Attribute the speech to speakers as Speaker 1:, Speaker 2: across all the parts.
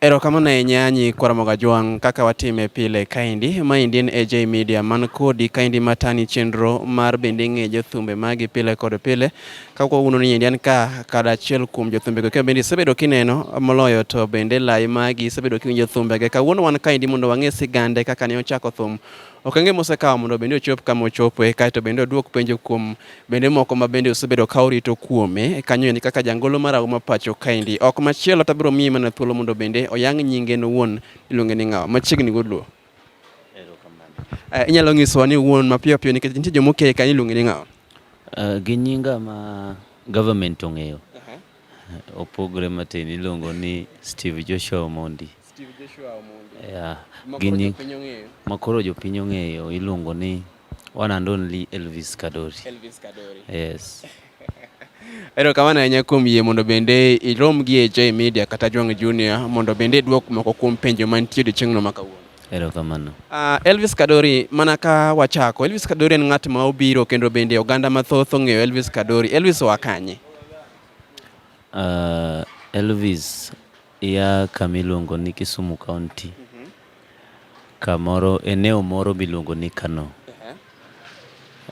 Speaker 1: Erokamano ahinya nyi Kwaramogo Ajwang' kaka watime pile kaendi. Maendi en AJ Media man kodi kaendi matani chenro mar bende ng'e jothumbe magi pile kod pile. Ka kwauno ni endi an ka kada achiel kuom jothumbego kendo bende isebedo kineno moloyo to bende lai magi isebedo kiwinjo thumbege. Kawuono wan kaendi mondo wang'e sigande kaka ne ochako thum okenge mosekawo mondo bende ochop kama ochopoe kaeto bende oduok penjo kuom bende moko ma bende osebedo ka orito kuome kanyo endi kaka jangolo mar auma pacho kaendi ok machielo to abiro miye mana thuolo mondo bende oyang nyinge nowuon iluonge ni ng'awa machiegni godluo eh, inyalo nyisowa ni wuon mapiyo piyo nikech nitie joma okeyo kanyo iluonge ni ng'awa eh, gi nyinga
Speaker 2: ma government ong'eyo Opogre matin iluongo ni Steve Joshua Omondi. Steve
Speaker 1: Joshua Omondi.
Speaker 2: Yeah. Gini makoro jopiny ong'eyo iluongo ni one and only Elvis Kadori. Elvis Kadori.
Speaker 1: Yes. Ero kamano ahinya kuom yie mondo bende irom gi AJ Media kata Jwang' Junior mondo bende idwok moko kuom penjo mantie odiechieng'no ma kawuono. Erokamano. Uh,
Speaker 2: Elvis
Speaker 1: Kadori, mana ka wachako, Elvis Kadori en ng'at ma obiro kendo bende oganda mathoth ong'eyo Elvis Kadori. Elvis oa kanye? Uh,
Speaker 2: Elvis ya kama iluongo ni Kisumu County. Mm -hmm. Kamoro eneo moro miluongo ni Kano. Uh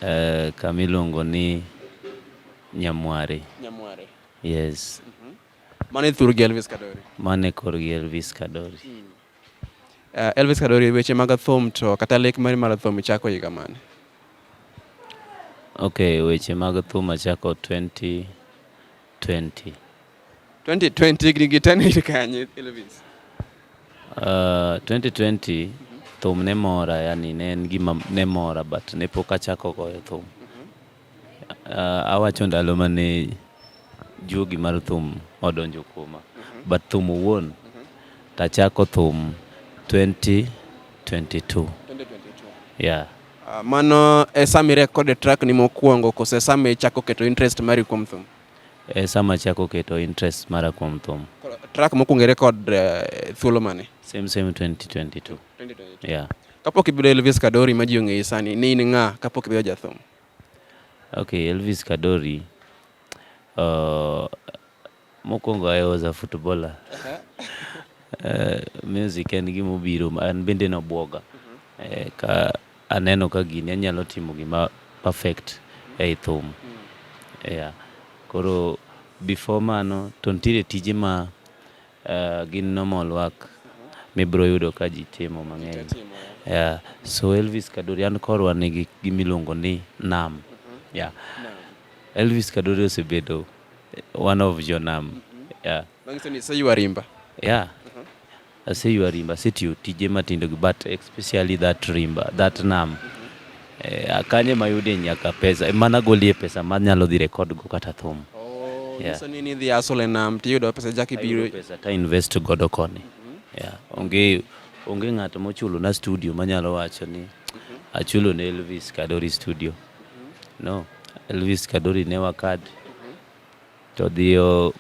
Speaker 2: -huh. uh, kama iluongo ni Nyamware. Nyamware.
Speaker 1: Yes. Mm
Speaker 2: -hmm. Mane
Speaker 1: thurgi Elvis Kadori. Mane korgi
Speaker 2: Elvis Kadori. Mm.
Speaker 1: Uh, Elvis Kadori, weche mag thum to kata lek mari mar thum ichako higa mane?
Speaker 2: Okay, weche mag thum achako 2020. 2020 higni
Speaker 1: gi tano ir kanye Elvis?
Speaker 2: Uh, 2020 thum ne mora yani ne en gima ne mora but ne pok achako goyo thum. Awacho ndalo mane juogi mar thum odonjo kuoma. But thum owuon to achako thum 2022. Yeah. Ah, Mano
Speaker 1: e sama irekod e track ni mokwongo kose sama ichako keto interest mari kuom thum? E sama achako
Speaker 2: keto interest mara kuom thum. Track mokwongo
Speaker 1: irekod eh, thuolo mane? Same same 2022. 2022.
Speaker 2: Yeah. Kapok ibedo
Speaker 1: Elvis Kadori ma ji ong'eyi sani, ne in ng'a kapok ibedo jathum? Okay,
Speaker 2: Elvis Kadori. Uh, mokwongo I was a footballer. Uh, music en gima obiro, an bende nobwoga. Eh, ka aneno ka gini anyalo timo gima perfect ei thum. Yeah. Koro before mano to nitiere tije ma Gin normal work mibiro yudo ka ji timo mang'eny. Yeah. So Elvis Kadori, an korwa nigi gimiluongo ni nam. Yeah. Elvis Kadori osebedo one of your nam. Yeah. Manyiso ni iseywa
Speaker 1: rimba. Yeah.
Speaker 2: Aseywa rimba, asetiyo tije matindo gi but especially that rimba, that nam. Eh, a kanye mayudie nyaka pesa eh, mana golie pesa ma nyalo dhi record go kata thum oh, yeah. so ni
Speaker 1: ni dhi asole nam tiyudo pesa jaki biro pesa ta invest
Speaker 2: godo koni mm -hmm. yeah. onge onge ng'ato mochulo na studio manyalo wacho ni achulo ne Elvis Kadori studio mm -hmm. no Elvis Kadori ne wakad mm -hmm. to dhi owuoyo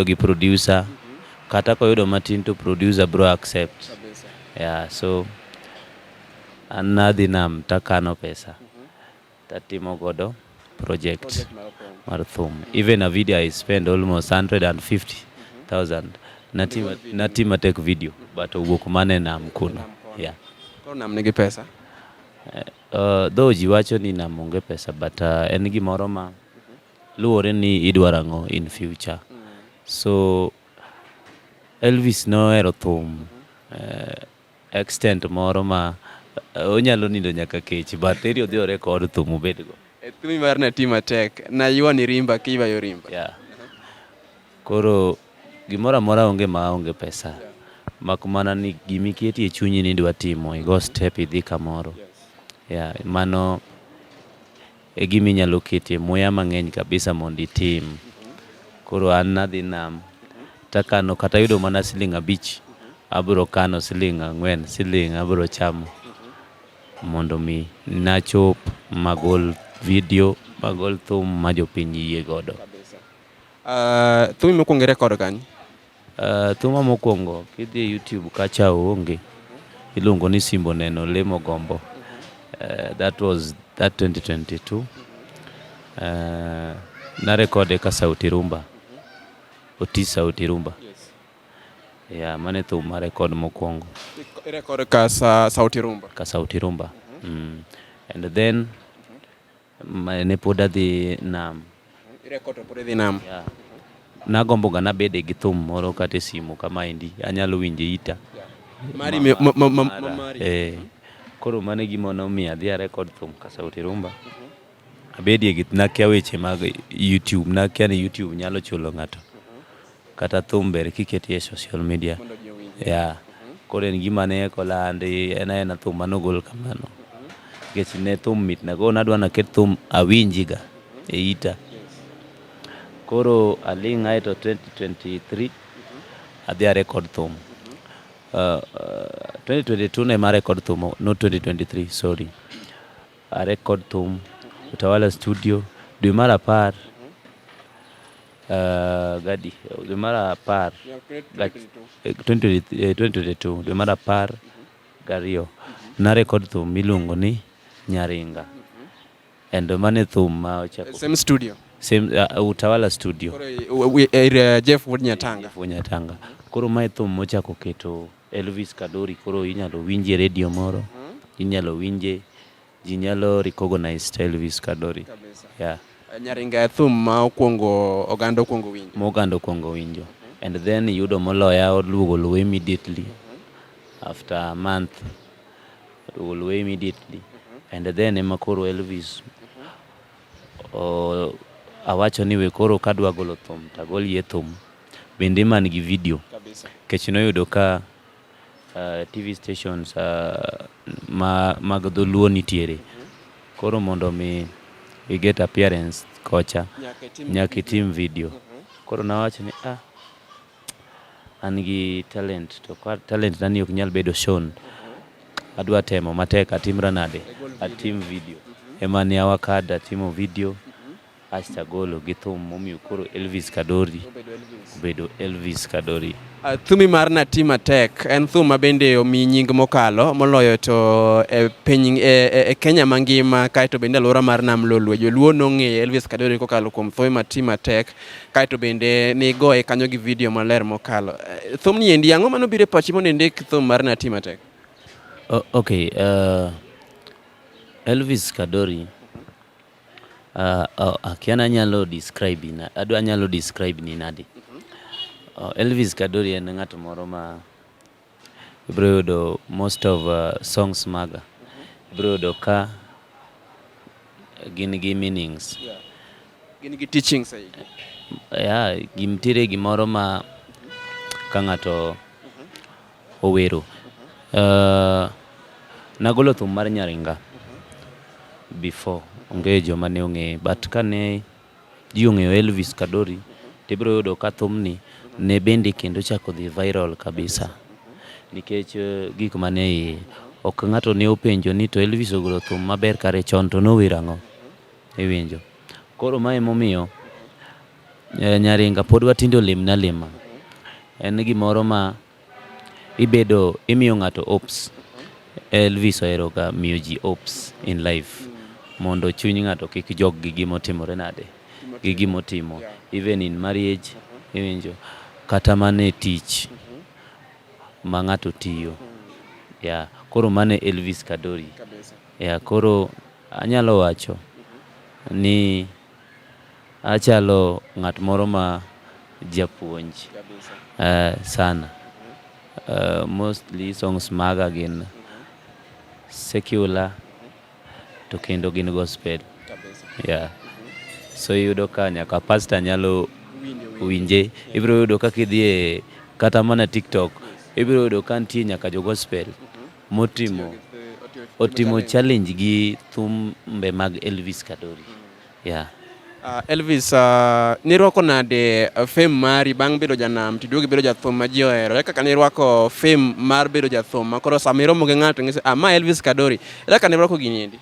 Speaker 2: gi producer kata koyudo matin to producer bro accept yeah, so an nadhi nam takano pesa tatimo godo project mar thum even a video i spend almost 150000 natima natima tek video but owuok mane nam kuno yeah Koro nam nigi
Speaker 1: pesa. Uh,
Speaker 2: though ji wacho ni nam onge pesa but uh, en gimoro ma luwore ni idwaro ang'o in future so Elvis nohero thum uh, extent moro ma uh, onyalo nindo nyaka kech but eri odhi ore kod thum obedgo e thumi mar natima
Speaker 1: tek nayuani rimba kiywayo rimba yeah.
Speaker 2: Koro gimoro amora onge ma onge pesa. Mak mana ni gima iketo e chunyi ni idwa timo, i go step idhi kamoro. Yeah, mano e gima inyalo ketie muya mang'eny kabisa mondo itim. Koro an nadhi nam takano kata yudo mana siling' abich, abiro kano siling' ang'wen, siling' abiro chamo mondo mi nachop magol video, magol thum ma jopiny yie godo. Uh,
Speaker 1: thumi mokwongo ere kod kany? Uh, thuma
Speaker 2: mokwongo kidhi e YouTube kacha onge iluongo ni Simbo Neno Lemo Gombo. Uh, that was that 2022. Uh, eh, na rekode ka Sauti Rumba. Oti Sauti Rumba. Yes. Yeah, mane thum ma rekod mokwongo. Rekod ka
Speaker 1: sa, Sauti Rumba. Ka Sauti Rumba.
Speaker 2: Mm -hmm. mm. And then ne pod adhi nam. Irecord to pod
Speaker 1: idhi nam.
Speaker 2: Yeah. Nagombo ga nabede gi thum moro kata e simu kama endi anyalo winje ita. Mari me-
Speaker 1: ma- ma- ma- ma- Mara, mari. eh.
Speaker 2: Koro mano e gima nomiyo adhi a record thum ka Sauti Rumba. Abedie gi nakia weche mag YouTube, nakia ni YouTube nyalo chulo ng'ato. kata thum ber kiketi e social media yeah. koro en gima ne eko landi en aena thum manogol kamano nikech ne thum mitna koro nadwa naket thum awinjiga e ita koro aling' ae to 2023 adhi a record thum uh, uh, 2022 ne ma record thum no 2023 sorry a record thum utawala studio dwe mar apar Gadi, dwe mar apar, gach- eh, 2023 eh, 2022, dwe mar apar gariyo, narekod thum miluongo ni Nyaringa. And mano e thum ma ochako Same studio.
Speaker 1: same, uh,
Speaker 2: Utawala Studio. Koro i- u- u- ir, eh,
Speaker 1: Jeff Wood Nyatanga. Nyatanga.
Speaker 2: Koro mae thum mochako keto Elvis Kadori, koro inyalo winje redio moro, inyalo winje Ji nyalo recognize style vis kadori. Yeah. Nyaringa e thum
Speaker 1: ma okuongo oganda okuongo winjo. Ma oganda okuongo winjo.
Speaker 2: And then yudo moloya oduogo luwe immediately. After a month oduogo luwe immediately. And then ema koro Elvis o, awacho ni we koro kadwa golo thum tagol ye thum bende man gi video. Kabisa. Kech noyudo ka Uh, TV stations uh, ma, mag dholuo nitiere koro mondo mi i get appearance kocha nyaka itim video mhm. koro nawacho ni ah, an gi talent to kwa talent nani ok nyal bedo shown mhm. adwa temo matek atimra nade atim video mhm. ema ne awakada timo video Asto agolo gi thum momiyo koro Elvis Kadori obedo Elvis Kadori. Uh, thumi mar Nati
Speaker 1: Matek en thum ma bende omi nying mokalo moloyo to e piny e, e, e Kenya mangima kaeto bende alwora mar Nam Lolwe joluo nong'eyo Elvis Kadori kokalo kuom thumi Nati Matek kaeto bende nigoye kanyo gi vidio maler mokalo. Uh, thum ni endi ang'o mano biro e pachi mondo indik thum mar Nati Matek? Uh, okay,
Speaker 2: uh, Elvis Kadori Uh, oh, akia nanyalo describe ina adwa nyalo describe ni nadi oh, Elvis Kadori en ng'at moro ma ibro yudo most of uh, songs maga ibro yudo ka gin gi meanings yeah. gin
Speaker 1: gi teachings eh? yeah,
Speaker 2: gimtiere gimoro ma ka ng'ato Owero. Uh, nagolo thum mar Nyaringa before onge joma ne ong'eye but kane ji ong'eyo Elvis Kadori tibiro yudo ka thumni ne bende kendo chako dhi viral kabisa nikech eh, gik mane iye ok ng'ato ne openjo ni to Elvis ogolo thum maber kare chon to nower ang'o iwinjo koro ma emomiyo Eh, Nyaringa pod watinde olimna alima. En gimoro ma ibedo imiyo ng'ato hopes. Elvis oheroga miyo ji hopes in life mondo chuny ng'ato kik jog gi gima otimore nade gi gima otimo even in marriage iwinjo kata mana e tich ma ng'ato tiyo. Yeah. Koro mano e Elvis Kadori. Yeah. Koro anyalo wacho ni Achalo ng'at moro ma japuonj sana. Mostly songs maga gin secular to kendo gin gospel. Yeah. So iyudo ka nyaka pastor nyalo winje. Ibiro yudo kaka idhi e kata mana TikTok, ibiro yudo ka nitie nyaka jo gospel motimo otimo challenge gi thumbe mag Elvis Kadori. Yeah. Uh, Elvis,
Speaker 1: uh, ah, nirwako nade uh, fame mari bang' bedo janam tiduogi bedo jathum ma ji ohero? Ere kaka nirwako fame mar bedo jathum ma koro sama iromo gi ng'ato ng'ise, ah, ma Elvis Kadori. Ere kaka nirwako gini endi?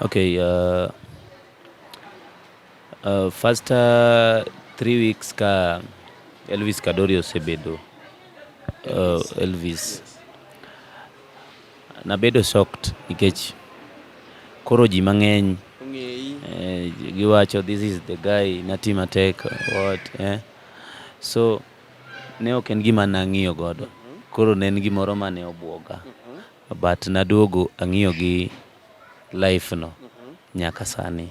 Speaker 1: Okay, uh,
Speaker 2: Uh, first uh, three weeks ka Elvis Kadori osebedo uh, Elvis nabedo shocked nikech koro ji mang'eny eh, giwacho this is the guy nati matek what eh? so ne ok en gima nang'iyo godo koro ne en gimoro mane obwoga but naduogo ang'iyo gi life no nyaka sani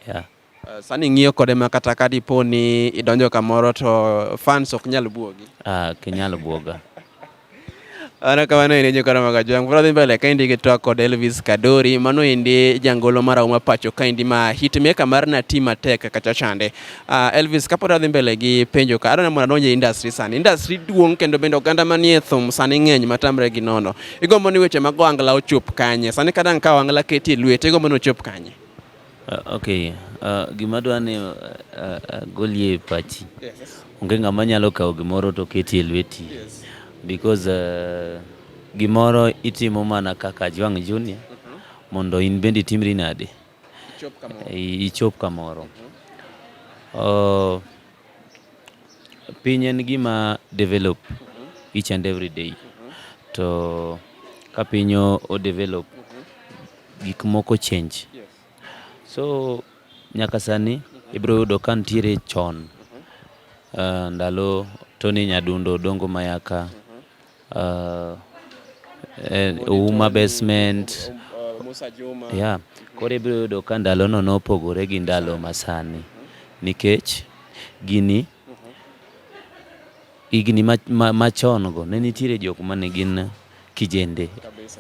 Speaker 2: yeah. Uh, sani ng'iyo
Speaker 1: kode ma kata ka dipo ni idonjo kamoro to fans ok nyal buogi ah, ok nyal buoga Ana kamano ine jokora mag ajwang' pora dhi mbele kaendi gi twak kod Elvis Kadori mano endi jangolo mar auma pacho kaendi ma hit maker mar na ti matek kacha chande uh, Elvis kapod adhi mbele gi penjo ka adwa ni mondo adonj e industry sani industry duong' kendo bende oganda manie thum sani ng'eny matamre gi nono Igombo ni weche mag ohangla ochop kanye? Sani ka dang' ka ohangla keti e lwete, igombo ni ochop kanye? Uh, okay.
Speaker 2: Uh, gima dwa ni uh, uh, golie pachi. Yes. Onge ng'ama nyalo kawo gimoro to keti e lweti. Yes. Because uh, gimoro itimo mana kaka Jwang' Junior uh mhm. -huh. mondo in bende itimri nade. ichop kamoro. Mhm. Uh, piny en gima develop mhm. each and every day. Mhm. To ka piny o develop, gik moko change. So nyaka sani ibiro yudo ka nitiere chon uh, ndalo Tony Nyadundo, Dongo Mayaka, Uh, eh, Uma Basement.
Speaker 1: Yeah. Koro ibiro
Speaker 2: yudo ka ndalono nopogore gi ndalo masani nikech gini higni machon go ne nitiere jok ma ne gin kijende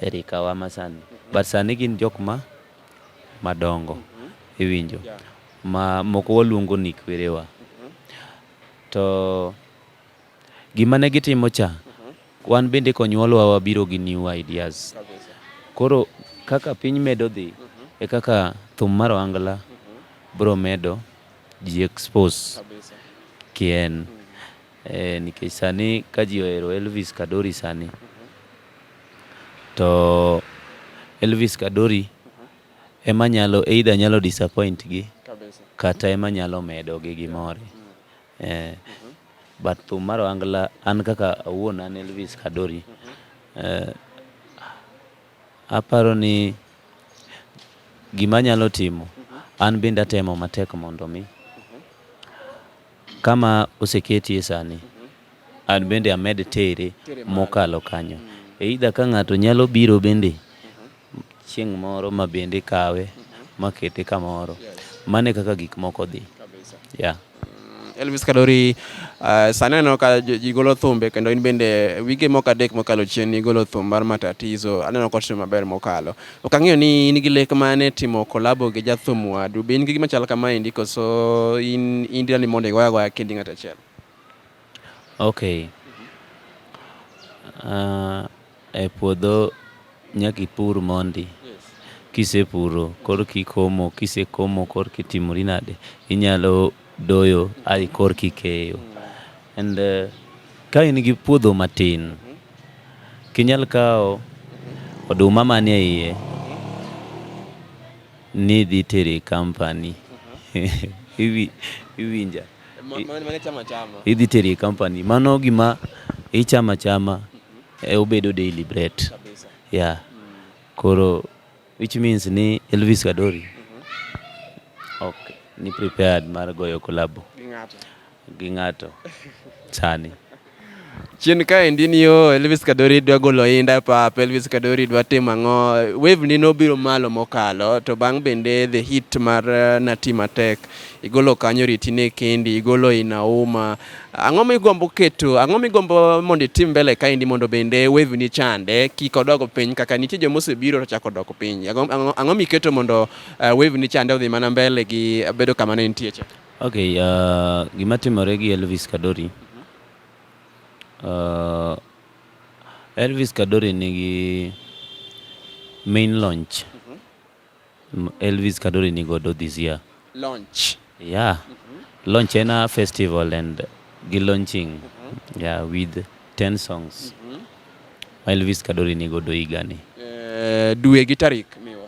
Speaker 2: e rikawa masani but sani gin jok ma madongo iwinjo ma moko waluongo ni kwerewa to Gima ne gitimo cha, wan bende konyuolwa wabiro gi new ideas. Koro kaka piny medo dhi, e kaka thum mar ohangla biro medo ji expose kien. Eh, nikech sani ka ji ohero Elvis Kadori sani, to Elvis Kadori ema nyalo, either nyalo disappoint gi, kata ema nyalo medo gi gimore. Eh, but thum mar ohangla an kaka awuon an Elvis Kadori. Eh, aparo ni gima nyalo timo an bende atemo matek mondo mi kama oseketie sani an bende amed tere Tere malo. mokalo kanyo. Either ka ng'ato nyalo biro bende Chieng' moro ma bende ikawe makete kamoro. Mano e kaka gik moko dhi. Yeah. Elvis
Speaker 1: Kadori, uh, sani aneno ka jo- ji golo thumbe kendo in bende wige moko adek mokalo chien nigolo thum mar matatizo aneno kotimo maber mokalo. Ok ang'eyo ni in gi lek mane timo kolabo gi jathum wadu. Be in gi gima chal kamaendi koso in in dira ni mondo igoya goya kendi ng'at achiel?
Speaker 2: Okay. Uh, E puodho nyaka ipur mondi, kisepuro korka ikomo, kisekomo korka itimori nade, inyalo doyo ae korka ikeyo. And ka in gi puodho matin, ok inyal kawo oduma manie iye ni idhi tero e company. Iwinja?
Speaker 1: Idhi tero e
Speaker 2: company. Mano gima ichamo achama. e, obedo daily bread yeah. Koro which means ni Elvis Kadori mm-hmm. ok ni prepared mar goyo kolabo gi ng'ato sani
Speaker 1: chien kaendi ni yo Elvis Kadori dwa golo inda e pap, Elvis Kadori dwa timo ang'o. Wave ni nobiro malo mokalo to bang' bende the hit mar eh, Nati Matek igolo kanyo ritine kendi igolo inauma Ang'o migombo keto, ang'o migombo mondo itim mbele kaendi mondo bende wevi ni chande kik odog piny kaka nitie joma osebiro to chako dok piny. Ang'o miketo mondo eh, wevi ni chande odhi mana mbele gi bedo kama ne nitie cha? Okay, uh,
Speaker 2: gima timore gi Elvis Kadori. Uh, Elvis Kadori nigi main launch. Elvis Kadori ni godo this year. Launch.
Speaker 1: Yeah.
Speaker 2: Mm -hmm. Launch in a festival and gi launching mm -hmm. yeah, with 10 songs. Mm -hmm. Ma Elvis Kadori ni godo igani. Eh, dwe
Speaker 1: gi tarik miwa.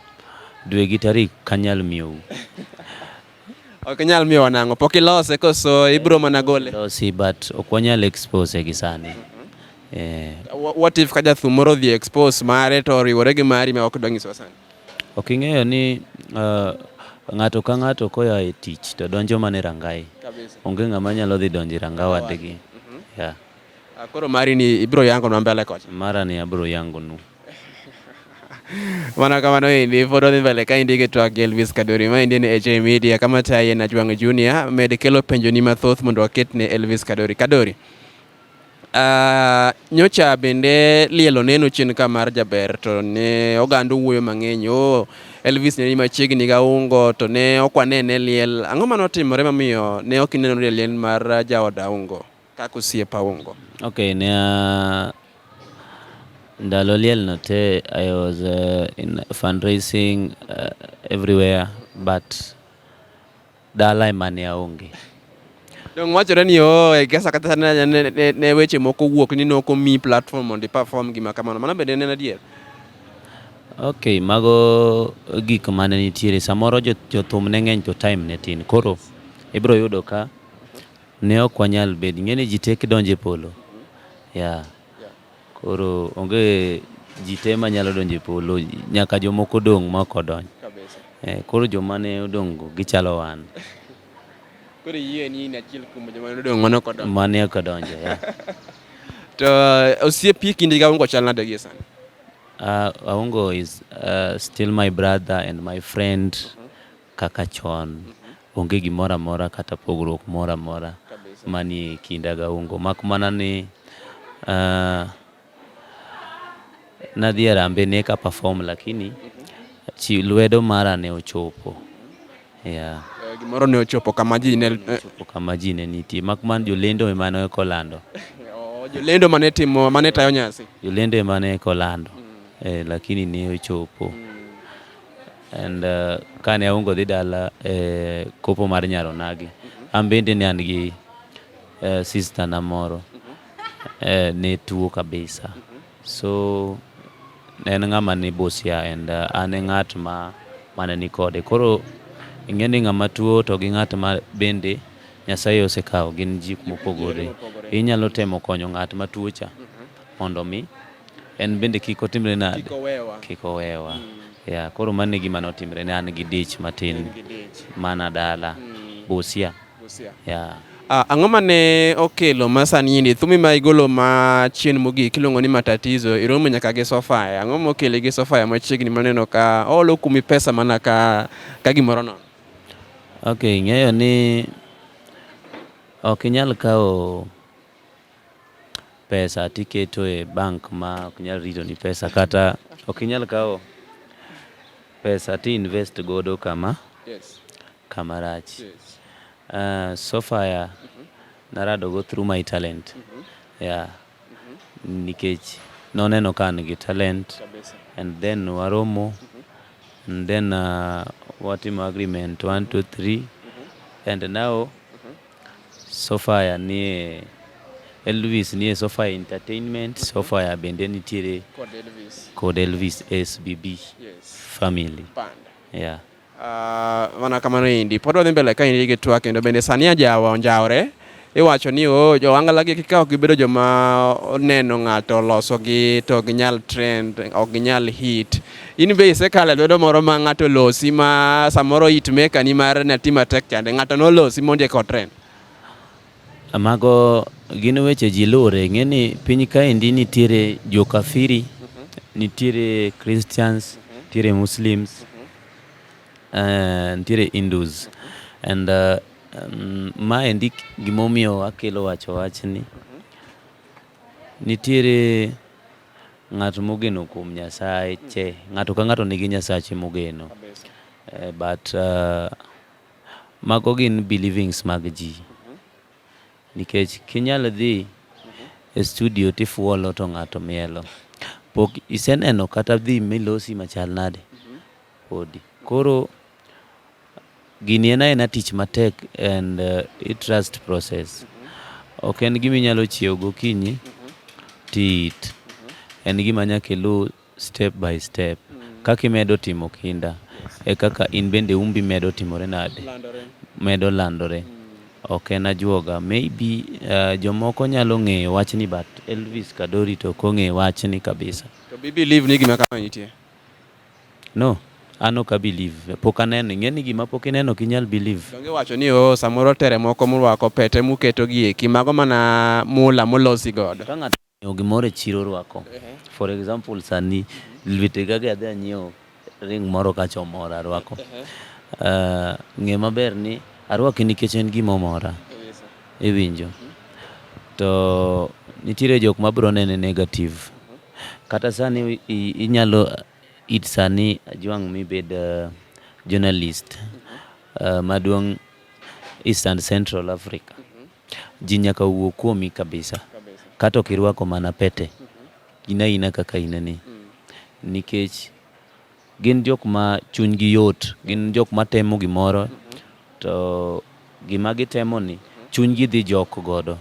Speaker 1: Dwe gi tarik
Speaker 2: kanyal miu.
Speaker 1: ok nyal miwa nango pok ilose koso ibro mana gole. Losi but ok
Speaker 2: wanyal expose gi sani. Mm -hmm. Eh,
Speaker 1: what if kaja thumoro dhi expose mare to riwore gi mari ma ok dwa nyiso sani Ok ing'eyo
Speaker 2: ni uh, ng'ato ka ng'ato koya e tich to donjo mana e rangai. Onge ng'ama nyalo dhi donjo e ranga wadgi. Mhm. Yeah. Ah,
Speaker 1: koro mari ni ibiro yango na mbele kocha. Mara ni abiro yango
Speaker 2: nu.
Speaker 1: Mana kamano endi pod wadhi mbele ka endi gi twak gi Elvis Kadori ma endi ni HA Media kama taye na Jwang' Junior med kelo penjoni mathoth mondo waket ne Elvis Kadori. Kadori, Uh, nyocha bende liel oneno chien ka mar jaber to ne oganda owuoyo mang'eny o oh, Elvis ne ni machiegni ga ungo to ne ok wanene liel ang'o mane otimore mamiyo ne ok ineno liel mar jaoda ungo kaka osiepa ungo okay ne
Speaker 2: uh, ndalo liel no te I was uh, in fundraising uh, everywhere but Dala ema ne aonge. Donge
Speaker 1: wachore ni oh, e kesa kata ne, ne, ne, ne weche moko wuok ni ne ok omi platform mondo iperform gima kamano. Mano bende en adier.
Speaker 2: Ok, mago gik mane nitiere. Samoro jo- jothum ne ng'eny to time ne tin. Koro ibiro yudo ka ne ok wanyal bedo. Ing'e ni ji tek donjo e polo. Yeah. Koro onge ji te manyalo donjo e polo, nyaka jomoko dong' ma ok odonj. Eh, koro joma ne odong'go gichalo wan.
Speaker 1: Koro iyie ni in achiel kuom joma ne odong' mane ok odonjo. Mane ok odonjo, yeah.
Speaker 2: To
Speaker 1: uh, osiepi kindi gi Aongo chal nade gie sani? Uh,
Speaker 2: Aongo is uh, still my brother and my friend. kaka chon, onge gimoro amora kata pogruok moro amora manie kinda ga Ungo. Mak mana ni uh, nadhi e rambe ne ka perform lakini chi lwedo mara ne ochopo. Yeah. Eh, gimoro ne
Speaker 1: ochopo kama ji ne eh, ochopo kama ji ne
Speaker 2: nitie mak man jolendo ema ne kolando. Oh, jolendo
Speaker 1: mane timo mane tayo nyasi. Jolendo ema ne
Speaker 2: kolando. Mm. Eh, lakini ne ochopo. Mm. and uh, kane aungo dhi dala e eh, kopo mar nyaro nagi an bende ne an gi eh, sister na moro eh, ne tuo kabisa so en ng'ama ni busia and uh, an e ng'at ma mane ni kode koro ing'e ni ng'ama tuo to gi ng'at ma bende nyasaye osekawo gin jik mopogore inyalo temo konyo ng'at ma tuo cha mondo mi en bende kik otimre nade, kik owewa. Mm. Yeah, koro mano e gima notimre ne an gi dich matin mana dala mm. Busia. Busia. Yeah. Ah, ang'o ma
Speaker 1: ne okelo ma sani yindi thumi ma igolo ma chien mogik iluongo ni matatizo iromo nyaka gi sofaya e. ang'o mokele gi sofaya e machiegni maneno ka olo kumi pesa mana ka, ka gimoro nono ok
Speaker 2: ing'eyo ni ok inyal kawo pesa to iketo e bank ma ok nyal ritoni pesa kata ok inyal kawo pesa to i invest godo kama Yes. kama rach. Yes. Uh, so far yeah, naradogo through my talent yeah. nikech noneno ka an gi talent Kabisa. and then waromo and then uh, watimo agreement one two three and now Sofaya nie Elvis nie Sofaya Entertainment, mm -hmm. Sofaya bende nitiere kod Elvis, kod Elvis SBB yes. family Band. Yeah. Uh,
Speaker 1: mana kamano indi pod wadhi mbele ka indi gi twak kendo bende sani ajawa onjawre iwacho ni o oh, jowangalagi kika ok gibedo joma oneno ng'ato olosogi to ok ginyal trend ok ginyal hit In be isekale lwedo moro ma ng'ato losi ma samoro it meka ni mar ne tima tek chande ng'ato nolosi mondi eko trend. Mago
Speaker 2: gin weche ji lure ng'e ni piny kaendi nitiere jo kafiri, mm -hmm. nitiere Christians, mm -hmm. nitiere Muslims, mm -hmm. uh, nitiere Hindus and uh, um, ma endi gimomiyo akelo wacho wachni, mm -hmm. nitiere Ng'at mogeno kuom Nyasache, ng'ato ka ng'ato nigi Nyasache mogeno. Eh, but uh, mago gin believings mag ji. Nikech kinyal dhi e studio tifuolo to ng'ato mielo. Pok iseneno kata dhi milosi machal nade podi. Koro Gini en aena tich matek and uh, it trust process. Ok en gima inyalo chiew gokinyi tit. En gima nyaka iluw step by step. Kaka imedo timo kinda e kaka in bende umbi medo timore nade? Medo landore. Ok en ajuoga. Maybe uh, jomoko nyalo ng'eyo wachni but Elvis Kadori to ok ong'eyo
Speaker 1: wachni kabisa.
Speaker 2: To be
Speaker 1: believe
Speaker 2: ni gima
Speaker 1: kama
Speaker 2: nitie? No,
Speaker 1: an
Speaker 2: ok a believe. Pok aneno. Ing'e ni gima pok ineno ok inyal believe. Donge iwacho ni oo
Speaker 1: samoro tere moko murwako pete muketo gi eki mago mana mula molosi godo. Ka ng'ato onyiewo gimoro
Speaker 2: e chiro orwako. For example sani lwete ga gi adhi anyiewo ring moro kacha omora arwako. Ng'e maber ni arwake nikech en gima omora. Iwinjo. To nitiere jok ma biro nene negative. Kata sani inyalo it sani Ajwang' mibed uh, journalist uh, maduong' East and Central Africa. Ji nyaka wuo kuomi kabisa. Kata ok irwako mana pete. In aina kaka inani. Nikech Gin jok ma chunygi yot, gin jok ma temo gimoro to gima gitemoni chunygi dhi jok godo.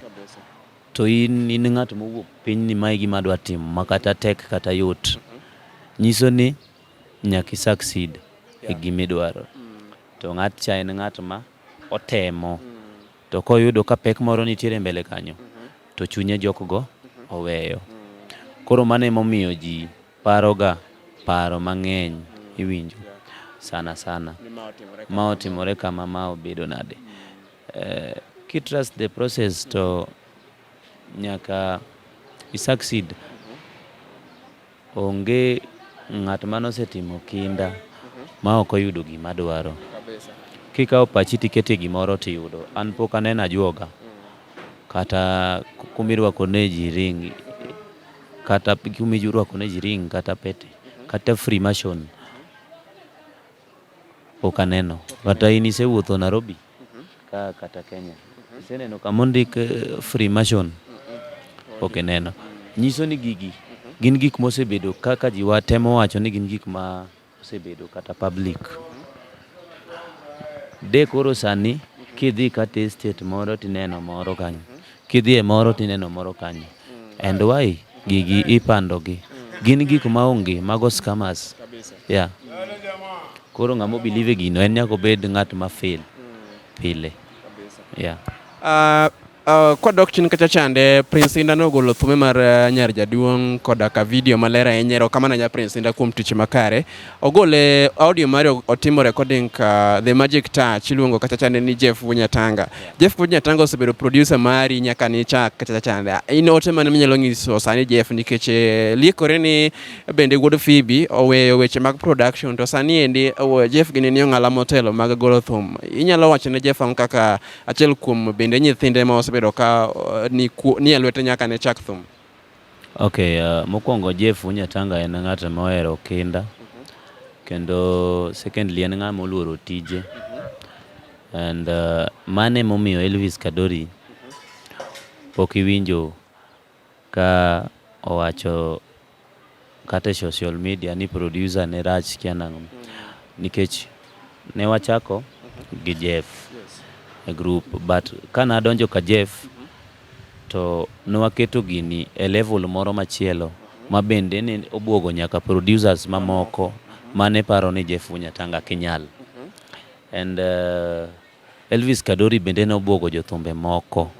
Speaker 2: To in in ng'at mowuok piny ni mae gima adwa timo ma kata tek kata yot. Nyiso ni nyaka i succeed e gima idwaro. To ng'at cha en ng'at ma otemo to koyudo ka pek moro nitiere mbele kanyo to chunye jok go oweyo. Koro mano emomiyo ji Paroga paro mang'eny iwinjo sana sana ma otimore kama ma obedo nade uh, kitrust the process to nyaka i succeed onge ng'at mane osetimo kinda ma ok oyudo gima dwaro kikawo pachi tikete gimoro tiyudo an pok aneno ajuoga kata kumirwako ne ji ring kata kuma irwako ne ji ring kata pete kata freemason ok aneno kata in isewuotho Nairobi ka kata Kenya iseneno kama ondik eh, freemason ok ineno nyiso ni gigi gin gik mosebedo kaka jiwa temo wacho ni gin gik ma osebedo kata public de koro sani kidhi kata e state moro tineno moro kanyo kidhi e moro tineno moro kanyo and why gigi ipandogi gin gik ma onge mago scammers ya koro ng'ama obilive gino en nyaka obed ng'at ma fail pile ya ah, Uh,
Speaker 1: kwadok chien kacha chande Prince Inda nogolo thume mar uh, Nyar Jaduong' koda ka video maler ahinya erokamano nya Prince Inda kuom tich makare. Ogole audio mari otimo recording ka The Magic Touch iluongo kacha chande ni Jeff Wunyatanga. Jeff Wunyatanga osebedo producer mari nyaka ni chak kacha chande. In ote mane minyalo nyiso sani Jeff nikech eh, liekore ni bende wuod Phoebe oweyo weche mag production to sani endi oh, Jeff gini ni ong'ala motelo mag golo thum. Inyalo wacho ne Jeff kaka Achiel kuom bende nyithinde ma osebedo ka uh, ni, ku, ni e lwete nyaka ne chak thum. Okay,
Speaker 2: uh, mokwongo Jeff Unyatanga en ng'at ma ohero kinda kendo secondly en ng'ama oluoro tije and uh, mano emomiyo Elvis Kadori pok iwinjo Ka owacho kata e social media ni producer ne rach sikia nang'o. Nikech ne wachako gi Jeff e group but kane adonjo ka Jeff to ne waketo gini e level moro machielo ma bende ne obuogo nyaka producers mamoko mane paro ni Jeff Wanyatanga kinyal. And uh, Elvis Kadori bende ne obwogo jothumbe moko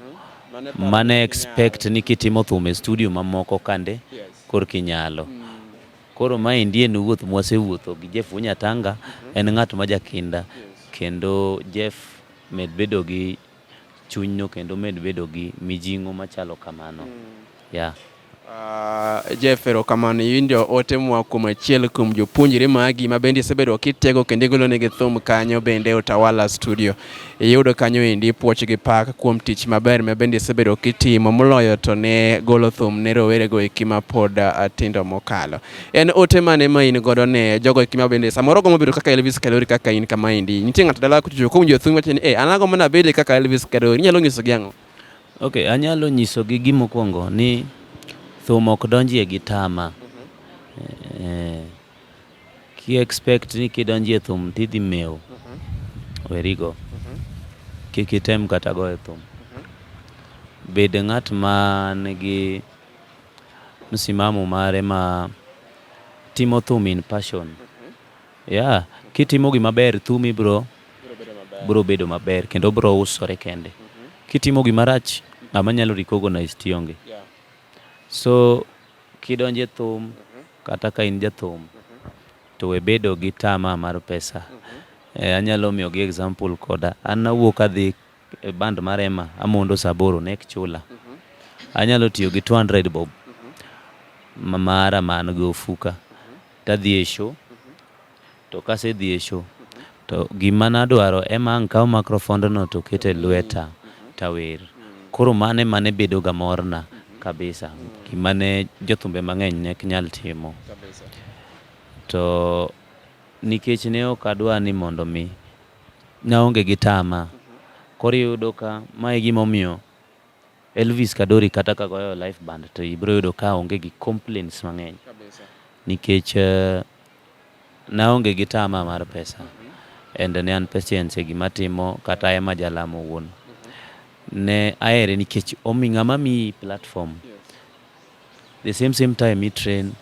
Speaker 2: mane expect ni kitimo thum e studio mamoko kande korki nyalo. Mm. Koro ma endi en wuoth mwasewuotho gi Jeff Wunyatanga, mm-hmm. en ng'at ma jakinda kendo Jeff med bedo gi chunyno kendo med bedo gi mijing'o machalo kamano. Mm. Yeah. Uh,
Speaker 1: Jeff, erokamano. Iwinjo ote moa kuom achiel kuom jopuonjre magi ma bende isebedo kitego kendo igolonegi thum kanyo bende e Utawala Studio. Iyudo kanyo endi puoch gi pak kuom tich maber ma bende isebedo kitimo moloyo to ne golo thum ne rowerego eki ma pod uh, tindo mokalo. En ote mane ma in godo ne jogo eki ma bende samoro gombo bedo kaka Elvis Kadori kaka in kama endi. Nitie ng'ato dala kuchocho kuom jothum wacho ni, "Eh, an agombo nabed kaka Elvis Kadori." Inyalo nyisogi ang'o? Ok, anyalo
Speaker 2: nyisogi gimokwongo ni thum ok donjie gi tama. Mm-hmm. Eh, ki expect ni kidonjie thum tidhi mew. Mm-hmm. Werigo. Mm-hmm. Kik item kata goyo thum. Bed ng'at ma nigi msimamo mare ma timo thum in passion. Yeah, kitimo gima ber thumi bro bro bedo maber kendo bro usore kende. Mhm. Kitimo gima rach ng'ama nyalo recognize tionge. Yeah. So kidonje thum mm -hmm. kata ka in jathum mm -hmm. to we bedo gi tama mar pesa. Mm -hmm. Eh, anyalo miyo gi example koda an awuok adhi e band mar Emma amondo saboro nek chula. Mm -hmm. Anyalo tiyo gi 200 bob mm -hmm. mara man gi ofuka. to adhi e show to kasedhi e show to gima nadwaro ema ang' kaw makrofondno to ket e lweta tawer. Koro mano ema ne bedoga morna kabisa, gima ne jothumbe mang'eny ne ok nyal timo. To nikech ne ok adwa ni mondo mi, naonge gi tama. Koro iyudo ka ma e gimomiyo Elvis Kadori kata ka goyo live band to ibiro yudo ka onge gi complaints mang'eny nikech uh, naonge gi tama mar pesa and ne an patient e gima timo kata ema jalamo wuon ne aere nikech omi ng'ama mi platform the same same time i train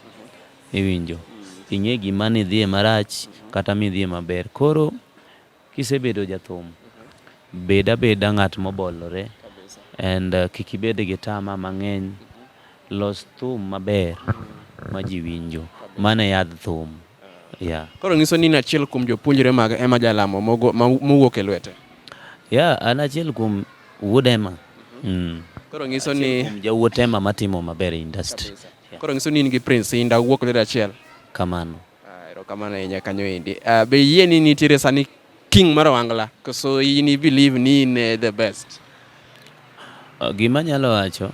Speaker 2: iwinjo ing'e gima nidhie marach kata midhie maber koro Kisebedo jathum, bed abeda ng'at mobolore and uh, kik ibed gi tama mang'eny. Los thum maber ma ji winjo. Mano e yadh thum. Yeah. Koro nyiso ni in achiel
Speaker 1: kuom jopuonjre mag Emma Jalamo mogo- ma- mowuok e lwete. Yeah, an
Speaker 2: achiel kuom wuod Emma. Mm. Koro
Speaker 1: nyiso ni Kuom jawuot Emma matimo
Speaker 2: maber e industry. Koro nyiso ni in
Speaker 1: gi Prince Indah uwuok lwedo achiel. Kamano.
Speaker 2: Ah, erokamano
Speaker 1: ahinya kanyo endi. Ah, be yie ni nitiere sani king mar wangla koso in i believe ni in eh, the best?
Speaker 2: Ah, gima nyalo wacho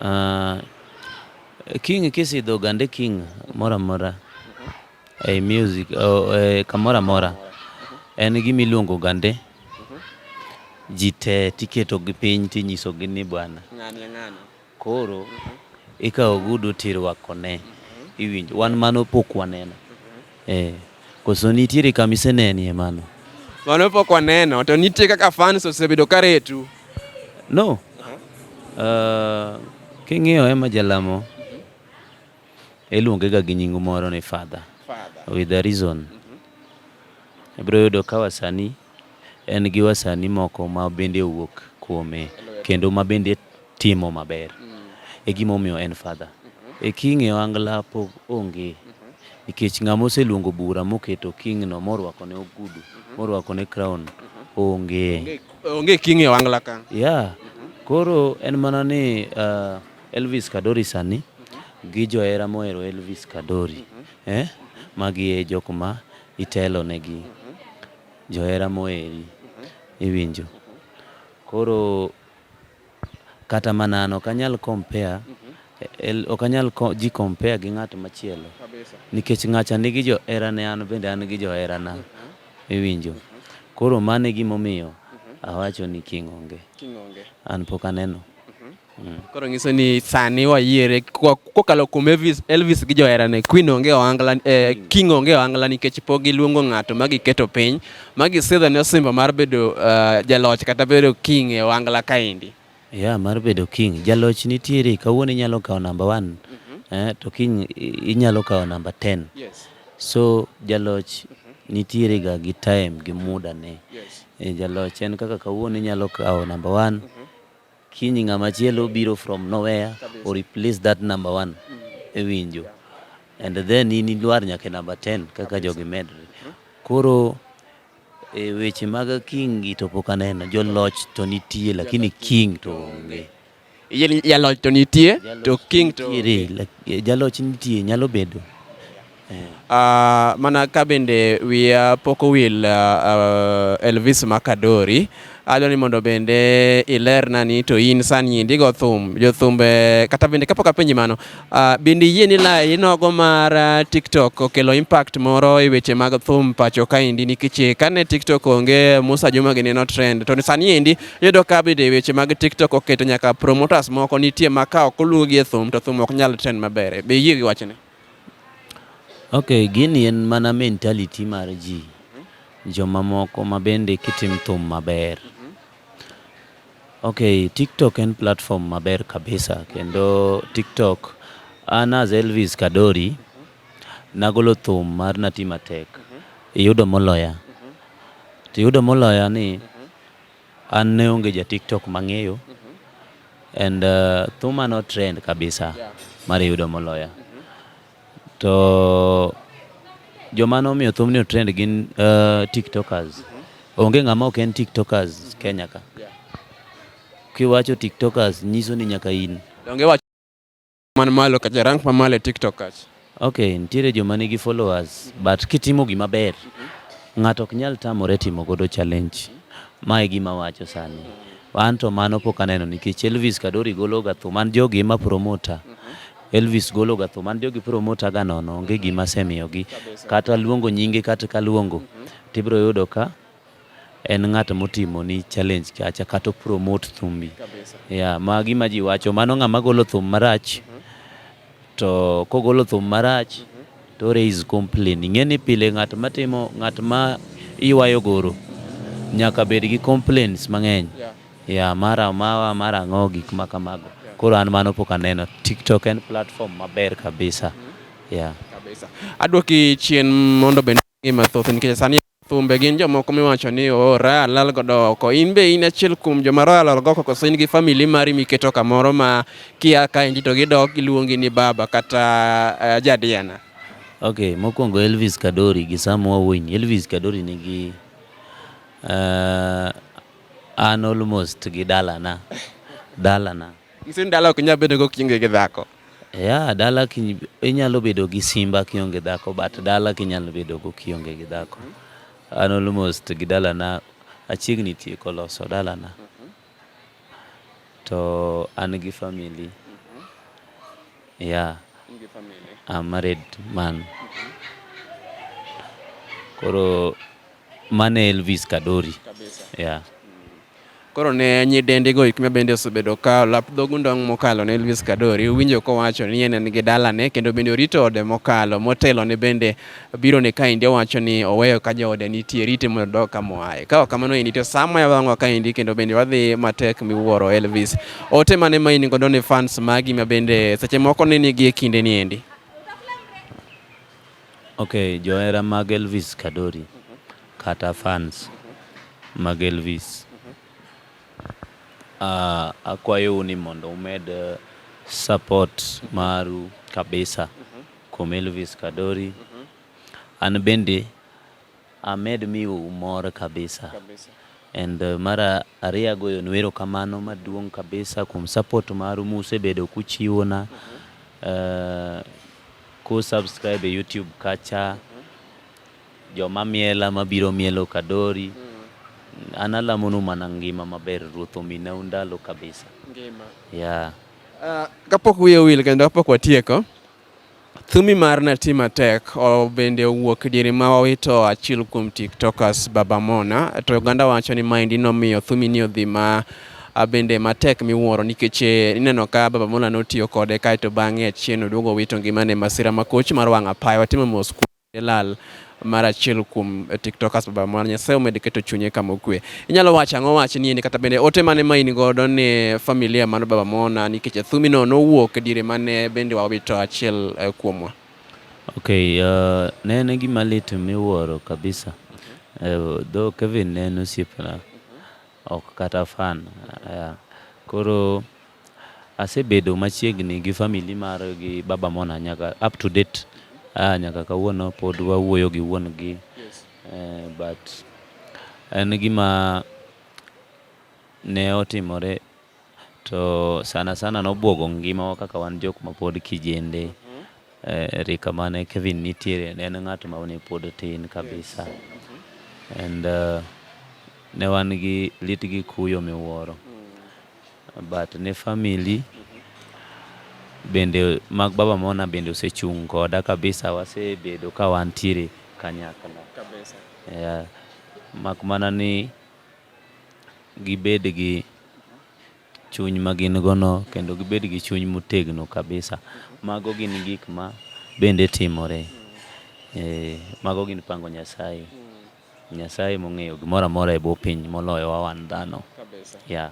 Speaker 2: uh, king kisidho gande king mora mora e hey, music oh, eh, kamora mora en gima iluongo gande ji te tiketo gi piny tinyiso gi ni bwana Koro ikawo ogudu tirwakone. Iwinjo, wan mano pok waneno. Eh, koso nitiere kama isenenie mano? Mano pok
Speaker 1: waneno, to nitie kaka fans osebedo ka retu. No.
Speaker 2: Uh, king'iyo ema jalamo iluongega gi nying moro ni father. Father. With a reason. Mm -hmm. Ibiro yudo ka wasani En gi wasani moko ma bende owuok kuome kendo ma bende timo maber. E gima omiyo en Father. E King e ohangla pok onge. Nikech ng'ama oseluongo bura moketo King no morwako ne ogudu, morwako ne crown onge. Onge King e
Speaker 1: ohangla ka. Yeah.
Speaker 2: Koro en mana ni uh, Elvis Kadori sani gi johera mohero Elvis Kadori. Eh? Magi e jok ma itelo negi. Johera moeri, iwinjo. Koro kata mana an ok anyal compare, el- ok anyal ko- ji compare gi ng'at machielo. Kabisa. Nikech ng'acha nigi joherane, an bende an gi joherana. Iwinjo. Koro mano e gimomiyo awacho ni king' onge. King' onge. An pok aneno. Mm. Koro
Speaker 1: nyiso ni sani wayiere kokalo kuom Elvis, Elvis gi joherane Queen onge ohangla eh, mm. King onge ohangla nikech pok giluongo ng'ato ma giketo piny ma gisidho ne osimbo mar bedo uh, jaloch kata bedo king e ohangla kaendi. Ya yeah, mar bedo
Speaker 2: king jaloch nitiere kawuono inyalo kawo namba 1 mm -hmm. eh, to king inyalo kawo namba 10. Yes. So jaloch mm -hmm. nitiere ga gi time gi muda ne. Yes. E, jaloch en kaka kawuono inyalo kawo namba 1 mm -hmm. Kiny ng'ama chielo biro from nowhere or replace that number one mm. e winjo and then in idwar nyaka number 10 kaka jogi medre mm-hmm. koro e weche mag kingi to pok aneno joloch to nitie lakini king to onge jaloch
Speaker 1: to nitie to king to jaloch
Speaker 2: nitie nyalo bedo Uh,
Speaker 1: mana ka bende wiya pok owil uh, Elvis Makadori adwa ni mondo bende ilerna ni to in sani endi go thum jothumbe kata bende kapok apenji mano uh, bende yie ni la inogo mar uh, TikTok okelo impact moro e weche mag thum pacho ka endi nikech kane TikTok onge Musa Juma gini no trend to sani endi yudo ka bende weche mag TikTok oketo nyaka promoters moko nitie ma ka ok oluwgi e thum to thum ok nyal trend maber be yie gi wachni
Speaker 2: Ok, gini en mana mentality mar ji. Joma moko ma bende kitim thum maber. Ok, TikTok en platform maber kabisa kendo TikTok an as Elvis Kadori nagolo thum mar Nati Matek, iyudo moloya. Tiyudo moloya ni An ne onge ja TikTok mang'eyo and uh, thuma no trend kabisa mar yudo moloya to joma nomiyo thumni o trend gin uh, tiktokers onge ng'ama ok en tiktokers Kenya ka kiwacho tiktokers nyiso ni nyaka in Donge wacho
Speaker 1: man malo kacha rank ma malo e TikTok kacha. Okay, nitiere
Speaker 2: joma nigi followers but kitimo gima ber ng'ato ok nyal tamore timo godo challenge. Ma e gima wacho sani. An to mano pok aneno nikech Elvis Kadori golo ga thum an jogi ema promota. Elvis golo ga thum an jogi promota ga nono onge gima asemiyogi kata luongo nyinge kata kaluongo tibiro yudo ka en ng'at motimo ni challenge kacha kata promote thumbi yeah, ma gima ji wacho mano ng'ama golo thum marach mhm. to kogolo thum marach mhm. to raise complain ing'e ni pile ng'at matimo ng'at ma iwayo goro nyaka bed gi complaints mang'eny yeah. yeah, mara mawa mara ang'o gik ma kamago yeah. koro an mano pok aneno tiktok en platform maber kabisa mm -hmm. yeah.
Speaker 1: kabisa adwoki chien mondo bende Ng'e mathoth nikech sani thumbe gin jomoko miwacho ni oor oh, alal godo oko. In be in achiel kuom joma royal alal godo koso in gi family mari miketo kamoro ma kia ka inji to gidok giluongi ni baba kata uh, jadiana. Okay,
Speaker 2: mokwongo Elvis Kadori gi Sam Wawiny. Elvis Kadori nigi uh, an almost gi dalana dalana
Speaker 1: Nyiso ni dala ok nyal bedo go kionge gi dhako. Yeah, dala
Speaker 2: ki, inyalo bedo gi simba kionge dhako but dala kinyalo bedo go kionge gi dhako. An almost gi dala na achiegni tieko loso dala na. To an gi family. Yeah. I'm married man. Koro mane Elvis Kadori. Yeah.
Speaker 1: Koro ne nyidendi go ikme bende osebedo ka olap dhogu ndong' mokalo ne Elvis Kadori. Uwinjo kowacho ni en en gi dalane kendo bende orito ode mokalo. Motelo ne bende biro ne kaendi owacho ni oweyo ka joode nitie rite mondo odog kama oaye. Ka ok kamano endi to sama yawang'wa kaendi kendo bende wadhi matek miwuoro Elvis. Ote mane ma in godo ne fans magi ma bende seche moko ne nigi e kinde ni endi?
Speaker 2: Ok johera mag Elvis Kadori kata fans mag Elvis akwayou ni mondo umed support maru kabisa kuom Elvis Kadori an bende Amed miu mor kabisa. Kabisa. And uh, mara ariyo agoyonu erokamano maduong' kabisa kuom support maru musebedo kuchiwona uh, ku subscribe e YouTube kacha joma miela mabiro mielo kadori an alamonu mana ngima maber ruoth ominau ndalo kabisa Ngima. yeah. Uh,
Speaker 1: kapok wiye wil kendo kapok watieko, Thumi mar Nati Matek bende owuok diere ma owito achiel kuom tiktokers Baba Mona to oganda wacho ni maendi nomiyo thumi ni odhi ma bende matek miwuoro nikech eh, ineno ka Baba Mona notiyo kode kaeto bang'e achien oduogo owito ngimane masira makoch mar wang' apaya watimo mos Lal mar achiel kuom eh, tiktokers baba mwana nyasaye omed keto chunye kama okwe inyalo wacho ang'o wach ni endi kata bende ote mane ma in godo ni familia mano baba mwana nikech athumino nowuok diere mane bende wawito achiel eh, kuomwa okay
Speaker 2: uh, ne en gima lit miwuoro kabisa uh, though kevin ne en osiepna Ok kata fan. Koro asebedo machiegni gi family mar gi baba Mona nyaka up to date. Ah, nyaka kawuono pod wawuoyo gi wuon gi. Yes. Eh, but en gima ne otimore To sana sana nobwogo ngimawa kaka wan jok ma pod kijende. Mhm. Eh, rika mane Kevin nitiere ne en ng'at ma ne pod tin kabisa. Mhm. And uh, ne wan gi lit gi kuyo miwuoro. Mm. But ne family mhm. bende mag baba mona bende osechung' koda kabisa wasebedo ka wantiere kanyakla. Kabisa. Yeah. Mak mana ni gibed gi chuny ma gin go no kendo gibed gi chuny motegno kabisa. Mago gin gik ma bende timore. Ee, mago gin pango Nyasaye. Nyasaye emong'eyo gimoro amora e bwo piny moloyowa wan dhano. Yeah.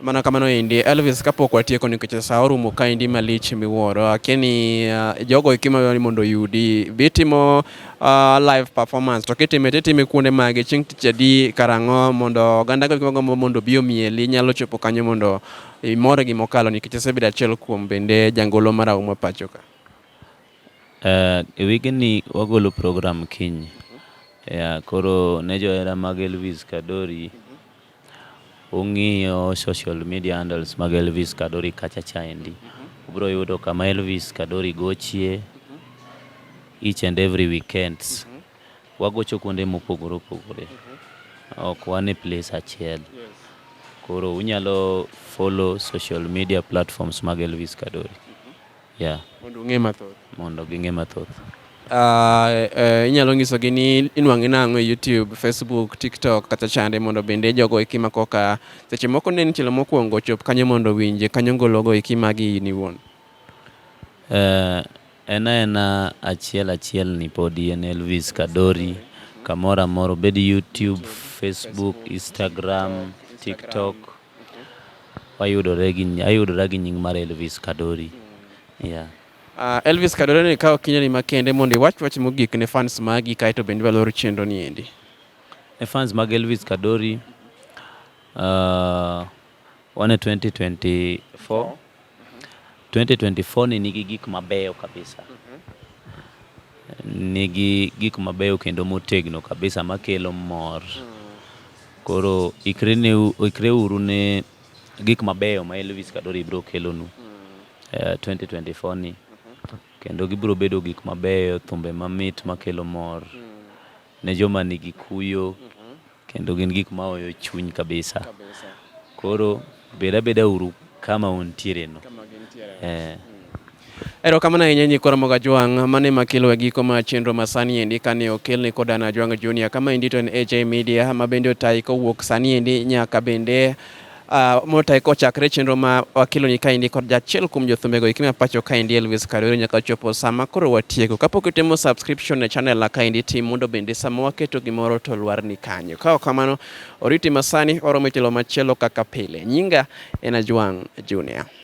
Speaker 2: Mana kamano endi Elvis,
Speaker 1: kapok watieko nikech saa orumo kaendi malich miwuoro, akia ni uh, jogo eki madwaro ni mondo oyudi bitimo uh, live performance to kitime titime kuonde mage chieng' tich adi karang'o mondo oganda go eki mondo obi omieli nyalo chopo kanyo mondo imore gi mokalo nikech isebedo achiel kuom bende jangolo mar Auma pacho ka. Uh, e
Speaker 2: wigni wagolo program kiny. Yeah, koro ne johera mag Elvis Kadori Ung'iyo social media handles mag Elvis Kadori kacha chaendi, mhm. ubiro yudo kama Elvis Kadori gochie mhm. each and every weekends. Mhm. Wagocho kuonde mopogore opogore, ok wan e place achiel. Koro unyalo follow social media platforms mag Elvis Kadori. Yeah. Mondo ung'e mathoth. Mondo ging'e mathoth. Uh, uh, inyalo
Speaker 1: nyisogi ni inwang'e nang'o e YouTube, Facebook, TikTok kata chande mondo bende jogo eki ma koka seche moko ne nichelo mokwongo ochop kanyo mondo winje kanyo ngologo eki magi in iwuon. Uh,
Speaker 2: en aena achiel achiel ni podi en Elvis Kadori kamoro amoro obed YouTube, Facebook, Instagram, TikTok. Wayudore gi ayudora gi nying mar Elvis Kadori. Yeah. Uh, Elvis
Speaker 1: Kadori ni kawo kinyani makende mondo iwach wach mogik ne fans magi kae to bende walor chenro ni endi. Ne fans
Speaker 2: mag Elvis Kadori uh, wane 2024 2024 ni nigi gik mabeyo kabisa. Nigi gik mabeyo kendo motegno kabisa makelo mor. Koro ikre uru ne gik mabeyo ma Elvis Kadori biro kelonu 2024 eh, ni. Kendo gibiro bedo gik mabeyo, thumbe mamit makelo mor ne joma nigi kuyo. Kendo gin gik ma oyo chuny kabisa. Koro beda beda uru kama untiere no. Eh.
Speaker 1: Erokamano ahinya nyikoro moga jwang' mane makelo e giko ma chenro ma sani endi kane okel ni koda na jwang' junior kama endi to en HA Media ma bende otayi kowuok sani endi nyaka bende Uh, ah, motae kochakre chenro ma wakeloni kaendi kod jachiel kuom jothumego iki ma pacho kaendi Elvis Karwero nyaka chopo sama koro watieko. Kapok itimo subscription e channel na kaendi tim mondo bende sama waketo gimoro to lwar ni kanyo. Ka ok kamano oriti masani oromo e tielo machielo kaka pile. Nyinga en Ajwang' Junior.